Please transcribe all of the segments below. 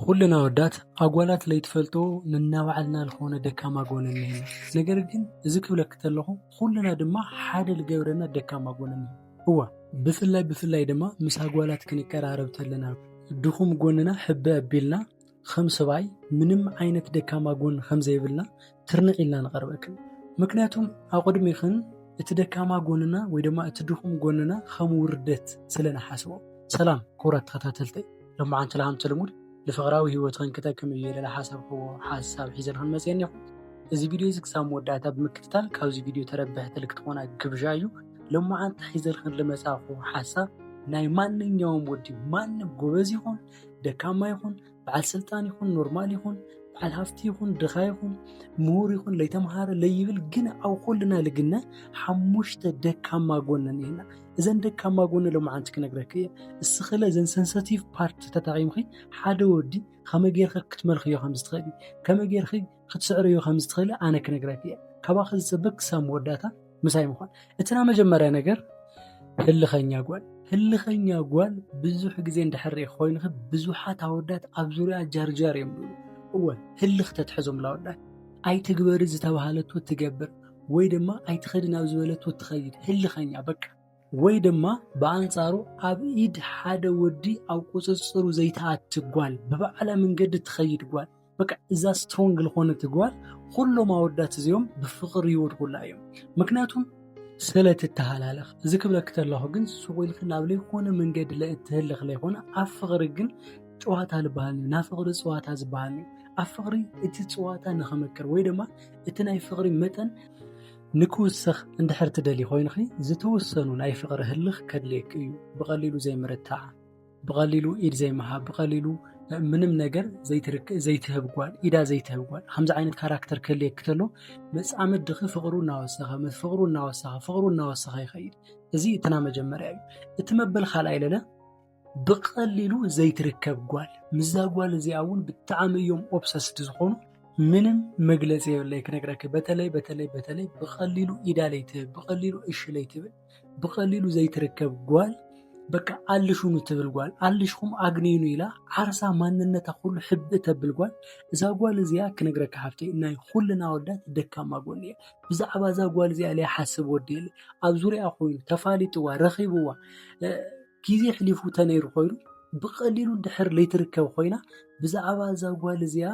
ኹልና ኣወዳት ኣጓላት ለይትፈልጦ ንናባዕልና ዝኾነ ደካማ ጎን እኒሀና ነገር ግን እዚ ክብለኪ ተለኹ ኹልና ድማ ሓደ ልገብረና ደካማ ጎን እኒሀ እዋ ብፍላይ ብፍላይ ድማ ምስ ኣጓላት ክንቀራረብ ተለና ድኹም ጎንና ሕበ ኣቢልና ከም ሰብኣይ ምንም ዓይነት ደካማ ጎን ከም ዘይብልና ትርንዕ ኢልና ንቐርበክን ምክንያቱም ኣቕድሚኽን እቲ ደካማ ጎንና ወይ ድማ እቲ ድኹም ጎንና ከም ውርደት ስለ ንሓስቦ። ሰላም ክቡራት ተኸታተልተይ ሎማዓንቲ ለሃምቲ ልሙድ ንፍቕራዊ ህይወትኽን ክጠቅም እዩ ኢለ ዝሓሰብክዎ ሓሳብ ሒዘልኽን መፅየ እኒኹ። እዚ ቪድዮ እዚ ክሳብ መወዳእታ ብምክትታል ካብዚ ቪድዮ ተረብሕቲ ልክትኾና ግብዣ እዩ። ሎማዓንቲ ሒዘልኽን ልመፃኹ ሓሳብ ናይ ማንኛውም ወዲ ማንም ጎበዝ ይኹን ደካማ ይኹን በዓል ስልጣን ይኹን ኖርማል ይኹን በዓል ሃፍቲ ይኹን ድኻ ይኹን ምሁር ይኹን ለይተምሃረ ለይብል ግን ኣብ ኩልና ልግነ ሓሙሽተ ደካማ ጎነ እኒሀና እዘን ደካማ ጎነ ሎማዓንቲ ክነግረክ እየ እስኽለ እዘን ሰንሰቲቭ ፓርት ተጠቂምኺ ሓደ ወዲ ከመይ ጌርኺ ክትመልኽዮ ከም ዝትኽእሊ ከመይ ጌርኺ ክትስዕርዮ ከም ዝትኽእሊ ኣነ ክነግረክ እየ ካባኺ ዝፅበ ክሳብ መወዳእታ ምሳይ ምኳን እቲ ናይ መጀመርያ ነገር ህልኸኛ ጓል ህልኸኛ ጓል ብዙሕ ግዜ እንድሕር ኮይኑኺ ብዙሓት ኣወዳት ኣብ ዙርያ ጃርጃር እዮም ዝብሉ እወ ህልኽ ተትሕዞም ላወዳት ኣይትግበሪ ዝተባሃለቶ ትገብር ወይ ድማ ኣይትኸዲ ናብ ዝበለቶ ትኸይድ ህልኸኛ በቃ ወይ ድማ ብኣንጻሩ ኣብ ኢድ ሓደ ወዲ ኣብ ቁፅፅሩ ዘይተኣቲ ጓል ብባዕላ መንገዲ ትኸይድ ጓል በቃ እዛ ስትሮንግ ዝኾነት ጓል ኩሎም ኣወዳት እዚኦም ብፍቕሪ ይወድቁላ እዮም ምክንያቱም ስለ ትተሃላለኽ እዚ ክብለክ ተለኹ ግን ሱቕ ኢልክ ናብ ለይኮነ መንገዲ ለእትህልኽ ለይኮነ ኣብ ፍቕሪ ግን ጨዋታ ዝበሃል እዩ ናብ ፍቕሪ ፀዋታ ዝበሃል እዩ ኣብ ፍቕሪ እቲ ፀዋታ ንክምክር ወይ ድማ እቲ ናይ ፍቕሪ መጠን ንክውስኽ እንድሕር ትደሊ ኮይንኺ ዝተወሰኑ ናይ ፍቕሪ ህልኽ ከድልየክ እዩ ብቐሊሉ ዘይምርታዕ ብቀሊሉ ኢድ ዘይምሃብ ብቀሊሉ ምንም ነገር ዘይትህብ ጓል ኢዳ ዘይትህብ ጓል ከምዚ ዓይነት ካራክተር ክህልየኪ ተሎ መፃምድ ድኺ ፍቅሩ እናወሰኸ ፍቅሩ እናወሰኸ ፍቅሩ እናወሰኸ ይኸይድ እዚ እትና መጀመርያ እዩ እቲ መበል ካልኣይ ለለ ብቀሊሉ ዘይትርከብ ጓል ምዛ ጓል እዚኣ እውን ብጣዕሚ እዮም ኦብሰስድ ዝኾኑ ምንም መግለፂ የብለይ ክነግረኪ በተለይ በተለይ በተለይ ብቀሊሉ ኢዳ ለይትህብ ብቀሊሉ እሺ ለይትብል ብቀሊሉ ዘይትርከብ ጓል በቃ ኣልሹኑ ትብል ጓል ኣልሽኹም ኣግንዩኑ ኢላ ዓርሳ ማንነታ ኩሉ ሕብእ ተብል ጓል እዛ ጓል እዚኣ ክነግረካ ሓፍተይ ናይ ኩልና ኣወዳት ደካማ ጎኒ እያ ብዛዕባ እዛ ጓል እዚኣ ለይሓስብ ወዲ የለ ኣብ ዙሪያ ኮይኑ ተፋሊጥዋ ረኺብዋ ግዜ ሕሊፉ ተነይሩ ኮይኑ ብቀሊሉ ድሕር ለይትርከብ ኮይና ብዛዕባ እዛ ጓል እዚኣ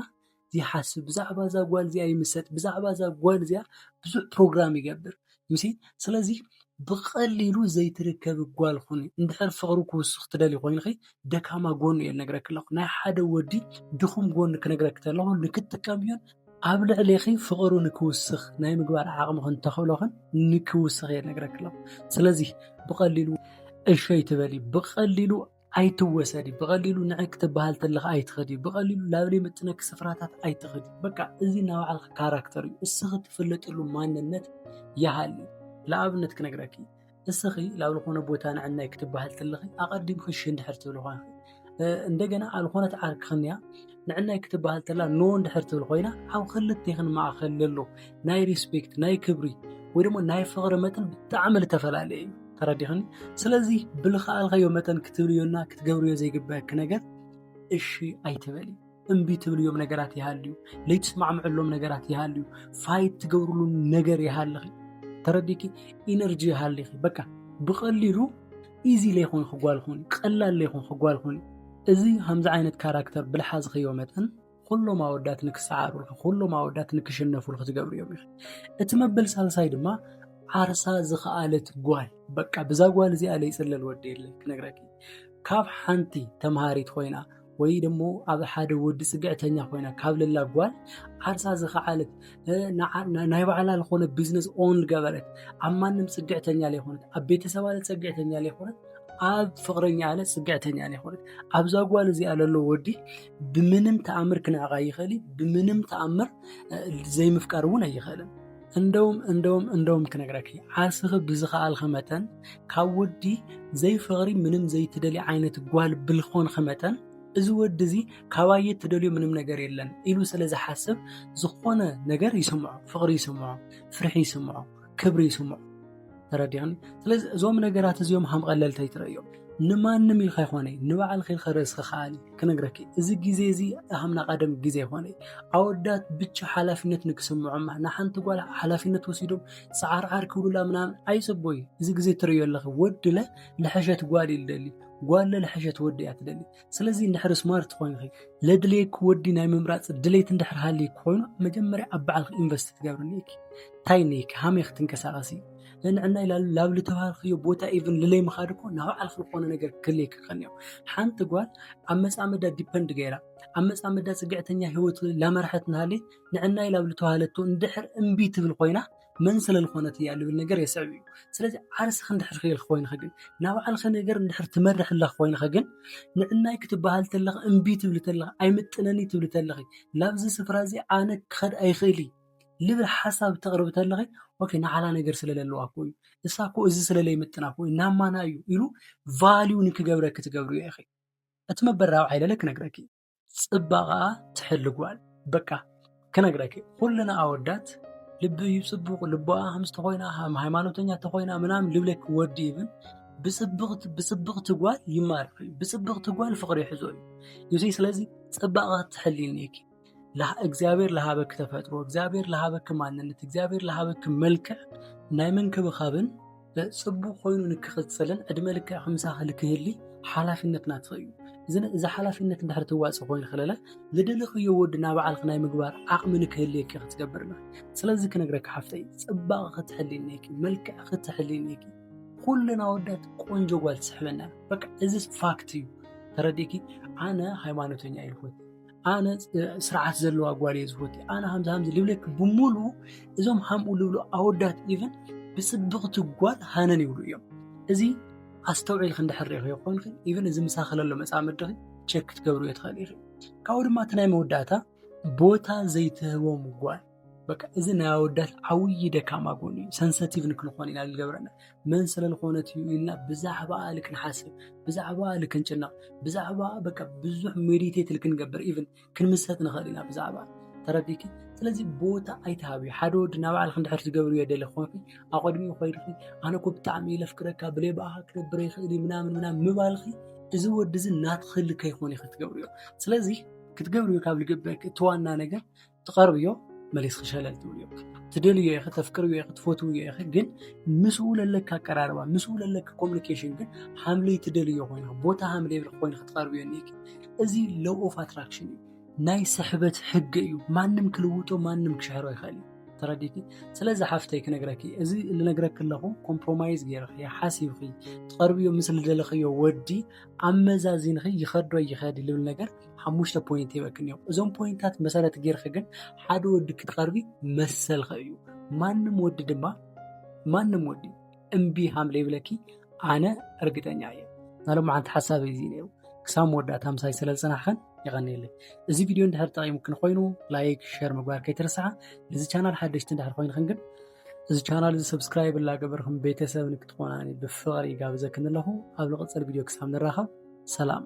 ዘይሓስብ ብዛዕባ እዛ ጓል እዚኣ ይምሰጥ ብዛዕባ እዛ ጓል እዚኣ ብዙሕ ፕሮግራም ይገብር ዩሲ ስለዚ ብቐሊሉ ዘይትርከብ ጓል ኹኒ እንድሕር ፍቕሪ ክውስኽ ትደሊ ኮይንኺ ደካማ ጎኑ እየ ልነግረክ ኣለኹ ናይ ሓደ ወዲ ድኹም ጎኒ ክነግረክ ተለኹ ንክትጥቀምዮን ኣብ ልዕሌኺ ፍቕሩ ንክውስኽ ናይ ምግባር ዓቕምኽን ተኽእሎኽን ንክውስኽ እየ ልነግረክ ኣለኹ ስለዚ ብቐሊሉ እሸይ ትበሊ ብቐሊሉ ኣይትወሰዲ ብቐሊሉ ንዕቅ ክትበሃል ተለኻ ኣይትኸዲ ብቐሊሉ ናብ ዘይምጥነኪ ስፍራታት ኣይትኸዲ በቃ እዚ ናይ ባዕልኺ ካራክተር እዩ እስኺ ትፍለጥሉ ማንነት ይሃሊ ንኣብነት ክነግረኪ እስኺ ናብ ዝኾነ ቦታ ንዕናይ ክትበሃል ተለኺ ኣቐዲምኺ ሽንድሕር ትብሊ ኳንኺ እንደገና ኣብ ዝኾነት ዓርክኽንያ ንዕናይ ክትበሃል ተላ ኖ እንድሕር ትብል ኮይና ኣብ ክልቴኽን ማእኸል ዘሎ ናይ ሪስፔክት ናይ ክብሪ ወይ ድማ ናይ ፍቕሪ መጠን ብጣዕሚ ዝተፈላለየ እዩ ተረዲኽኒ ስለዚ ብልኸኣልኸዮ መጠን ክትብልዮና ክትገብርዮ ዘይግበአኪ ነገር እሺ ኣይትበሊ እምቢ ትብልዮም ነገራት ይሃልዩ ለይትስማዕምዕሎም ነገራት ይሃልዩ ፋይት ትገብርሉ ነገር ይሃልኺ ተረዲኪ ኢነርጂ ይሃልኺ በቃ ብቐሊሉ ኢዚ ለይኮንኪ ጓል ኹኒ ቀላል ለይኮንኪ ጓል ኹኒ እዚ ከምዚ ዓይነት ካራክተር ብልሓዝኽዮ መጠን ኩሎም ኣወዳት ንክሰዓሩልኪ ኩሎም ኣወዳት ንክሽነፉልኪ ዝገብሩ እዮም ይኽእል እቲ መበል ሳልሳይ ድማ ዓርሳ ዝኸኣለት ጓል በቃ ብዛ ጓል እዚኣ ለይፅለል ወዲ የለን ክነግረኪ ካብ ሓንቲ ተምሃሪት ኮይና ወይ ደሞ ኣብ ሓደ ወዲ ጽግዕተኛ ኮይና ካብ ለላ ጓል ዓርሳ ዝኸዓለት ናይ ባዕላ ዝኾነ ቢዝነስ ኦን ዝገበረት ኣብ ማንም ጽግዕተኛ ዘይኮነት ኣብ ቤተሰብ ኣለ ጽግዕተኛ ዘይኮነት ኣብ ፍቕረኛ ኣለ ጽግዕተኛ ዘይኮነት ኣብዛ ጓል እዚኣ ለሎ ወዲ ብምንም ተኣምር ክንዕቓ ይኽእል እዩ ብምንም ተኣምር ዘይምፍቃር እውን ኣይኽእልን እንደውም እንደውም እንደውም ክነግረኪ ዓርስኺ ብዝኸኣልኺ መጠን ካብ ወዲ ዘይፍቕሪ ምንም ዘይትደሊ ዓይነት ጓል ብልኾንኺ መጠን እዚ ወዲ እዚ ካባየ ትደልዮ ምንም ነገር የለን ኢሉ ስለ ዝሓስብ ዝኾነ ነገር ይስምዖ፣ ፍቕሪ ይስምዖ፣ ፍርሒ ይስምዖ፣ ክብሪ ይስምዖ። ተረዲኣኒ ስለዚ እዞም ነገራት እዚኦም ሃም ቀለልቲ ኣይትረእዮም ንማንም ኢልካ ይኮነ ንባዕልኺ ኢልካ ርእስኺ ከኣሊ ክነግረኪ እዚ ግዜ እዚ ሃምና ቀደም ግዜ ይኮነ ኣወዳት ብቻ ሓላፊነት ንክስምዖማ ንሓንቲ ጓል ሓላፊነት ወሲዶም ፃዓርዓር ክብሉላ ምናምን ኣይፅቡይ እዚ ግዜ ትርእዮ ኣለኺ ወድለ ልሐሸት ጓል ይደሊ ጓለ ልሐሸት ወዲ እያ ትደሊ ስለዚ እንድሕር ስማርት ኮይንኺ ለድልየኪ ወዲ ናይ ምምራፅ ድሌት እንድሕር ሃልይኪ ኮይኑ መጀመርያ ኣብ ባዕልኺ ኢንቨስት ትገብሪ እኒኢኪ እንታይ እኒኢኪ ሃመይ ክትንቀሳቐሲ ንዕና ይላሉ ላብ ዝተባሃልክዮ ቦታ ኢቭን ልለይ ምኻድ እኮ ናብ ባዕልኺ ዝኾነ ነገር ክልየኪ ከኒዮ ሓንቲ ጓል ኣብ መፃመዳ ዲፐንድ ገይራ ኣብ መፃመዳ ፅግዕተኛ ህይወት ላመራሐት ንሃለይ ንዕናይ ላብ ዝተባሃለቶ እንድሕር እምቢ ትብል ኮይና መን ስለልኾነት እያ ልብል ነገር የስዕብ እዩ ስለዚ ዓርስኺ እንድሕር ክልክ ኮይንኺ ግን ናብ ባዕልኺ ነገር እንድሕር ትመርሒ ኣለኺ ኮይንኺ ግን ንዕናይ ክትበሃል ተለኺ እምቢ ትብሊ ተለኺ ኣይምጥነኒ ትብሊ ተለኺ ላብዚ ስፍራ እዚ ኣነ ክኸድ ኣይኽእል እዩ ልብል ሓሳብ ተቕርቢ ተለኺ ኦኬ ንዓላ ነገር ስለለለዋ እኮ እዩ እሳ እኮ እዚ ስለለይምጥና እኮ እዩ ናብ ማና እዩ ኢሉ ቫልዩ ንክገብረኪ ትገብርዮ ኢኺ እቲ መበል ራብዓይ ለለ ክነግረኪ እዩ ፅባቐኣ ትሕሊ ጓል በቃ ክነግረኪ ኩልና ኣወዳት ልቢ እዩ ፅቡቕ ልቦኣ ከም ዝተኮይና ከም ሃይማኖተኛ ተኮይና ምናምን ልብለኪ ወዲ ይብን ብፅብቕቲ ጓል ይማርኽ እዩ ብፅብቕቲ ጓል ፍቕሪ ይሕዞ እዩ ዩሲ ስለዚ ፅባቐ ክትሕልኒ እኪ እግዚኣብሔር ለሃበኪ ተፈጥሮ እግዚኣብሔር ለሃበኪ ማንነት እግዚኣብሔር ለሃበኪ መልክዕ ናይ ምንክብኻብን ጽቡቕ ኮይኑ ንክቕጽልን ዕድመ ልክዕ ምሳኺ ንክህሊ ሓላፍነት ናትኺ እዩ እዚ ሓላፍነት እንድሕር ትዋጽእ ኮይኑ ከለለ ዝደለኽዮ ወዲ ናብ ባዕልኺ ናይ ምግባር ዓቕሚ ንክህልየኪ ክትገብርና ስለዚ ክነግረኪ ሓፍተይ ጽባቕ ክትሕልነኪ መልክዕ ክትሕልነኪ ኩልና ወዳት ቆንጆ ጓል ትስሕበና በቃ እዚ ፋክት እዩ ተረዲእኪ ኣነ ሃይማኖተኛ ይልኹት ኣነ ስርዓት ዘለዋ ጓል እየ ዝፈቱ ኣነ ከምዚ ከምዚ ልብለኪ ብምሉ እዞም ሃምኡ ልብሉ ኣወዳት ኢቨን ብፅብቕቲ ጓል ሃነን ይብሉ እዮም እዚ ኣስተውዒልክ እንድሕር ሪኢኽዮ ኮንክ ኢቨን እዚ ምሳኺ ለሎ መፃምድኺ ቸክ ክትገብርዮ ትኽእል ኢኺ ካብኡ ድማ እቲ ናይ መወዳእታ ቦታ ዘይትህቦም ጓል በቃ እዚ ናይ ኣወዳት ዓብዪ ደካማ ጎኒ እዩ። ሰንሰቲቭ ንክንኾን ኢና ዝገብረና መን ስለዝኾነት እዩ ኢልና ብዛዕባ ልክ ንሓስብ፣ ብዛዕባ ልክ ንጭነቕ፣ ብዛዕባ በቃ ብዙሕ ሜዲቴት ልክንገብር ኢቭን ክንምሰጥ ንኽእል ኢና ብዛዕባ ተረዲኪ። ስለዚ ቦታ ኣይትሃብዩ። ሓደ ወዲ ናባዕልክ እንድሕር ዝገብር እየ ደሊ ኮንኪ ኣቐድሚኡ ኮይድኺ ኣነ እኮ ብጣዕሚ ይለፍቅረካ ብለይ ብኣኻ ክነብረ ይኽእል ምናምን ምናምን ምባልኺ እዚ ወዲ እዚ ናትኺ ልከይኮን ኢኺ ትገብርዮ ስለዚ ክትገብርዮ ካብ ልግበክ እቲ ዋና ነገር ትቐርብዮ መሊስኺ ሸለል ትብልዮ ትደልዮ ኢኺ ተፍቅርዮ ኢኺ ትፈትውዮ ኢኺ ግን ምስኡ ለለካ ኣቀራርባ ምስኡ ለለካ ኮሚኒኬሽን ግን ሃምለይ ትደልዮ ኮይንኺ ቦታ ሃምለይ ኮይን ክትቐርብዮ እኒኪ እዚ ሎው ኦፍ ኣትራክሽን እዩ ናይ ስሕበት ሕጊ እዩ ማንም ክልውጦ ማንም ክሸሕሮ ይኽእል እዩ ተረዲቲ ስለዚ ሓፍተይ ክነግረኪ እዚ ልነግረኪ ኣለኹ ኮምፕሮማይዝ ገይርኺ ሓሲብኺ ትቐርብዮ ምስ ልደለኽዮ ወዲ ኣመዛዚንኺ ይኸዶ ይኸዲ ልብል ነገር ሓሙሽተ ፖይንት ይበክን እዮም እዞም ፖይንታት መሰረት ጌርክ ግን ሓደ ወዲ ክትቐርቢ መሰልኸ እዩ ማንም ወዲ ድማ ማንም ወዲ እምቢ ሃም ዘይብለኪ ኣነ እርግጠኛ እየ ናሎም ሓንቲ ሓሳብ እዚ ነይሩ ክሳብ መወዳእታ ምሳይ ስለ ዝፅናሕኸን የቐኒየለይ እዚ ቪድዮ እንድሕር ጠቂሙክን ኮይኑ ላይክ ሸር ምግባር ከይትርስዓ ነዚ ቻናል ሓደሽቲ እንድሕር ኮይንክን ግን እዚ ቻናል እዚ ሰብስክራይብ እናገበርኩም ቤተሰብ ንክትኾናኒ ብፍቕሪ ጋብዘክን ኣለኹ ኣብ ዝቕፅል ቪድዮ ክሳብ ንራኸብ ሰላም